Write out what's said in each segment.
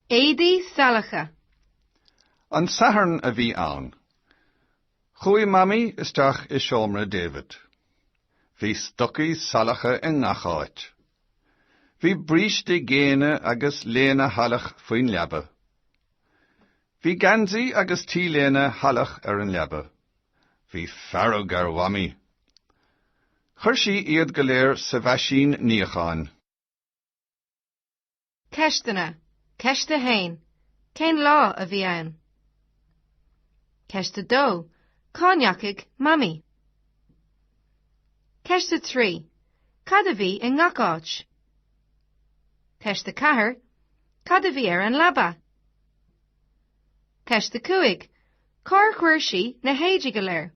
Éadaí salacha. An Satharn a bhí ann. Chuaigh Mamaí isteach i seomra David. Bhí stocaí salacha i ngach áit. Bhí bríste géine agus léine shalach faoin leaba. Bhí geansaí agus t-léine shalach ar an leaba. Bhí fearg ar Mhamaí. Chuir sí iad go léir sa mheaisín níocháin. Ceisteanna, Ceist 1, Cén lá a bhí ann? Ceist 2, Cá ndeachaigh Mamaí? Ceist 3, Cad a bhí i ngach áit? Ceist 4, Cad a bhí ar an leaba? Ceist 5, Cár chuir sí na héadaí go léir?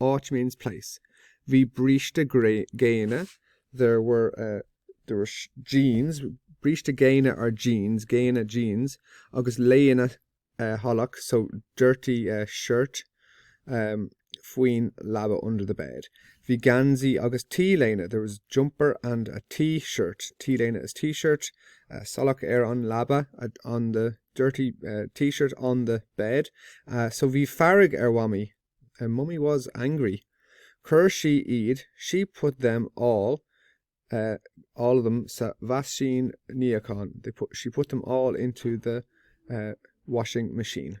Áit means place. Bhí bríste géine, there were, there were jeans, bríste géine are jeans, géine jeans, agus léine shalach so dirty shirt faoin leaba under the bed. Bhí geansaí agus T-léine, there was jumper and a T-shirt, T-léine is T-shirt, salach ar an leaba on the dirty T-shirt on the bed. So bhí fearg ar Mhamaí a mummy was angry chuir sí iad she put them all eh all of them sa mheaisín níocháin they put she put them all into the eh washing machine.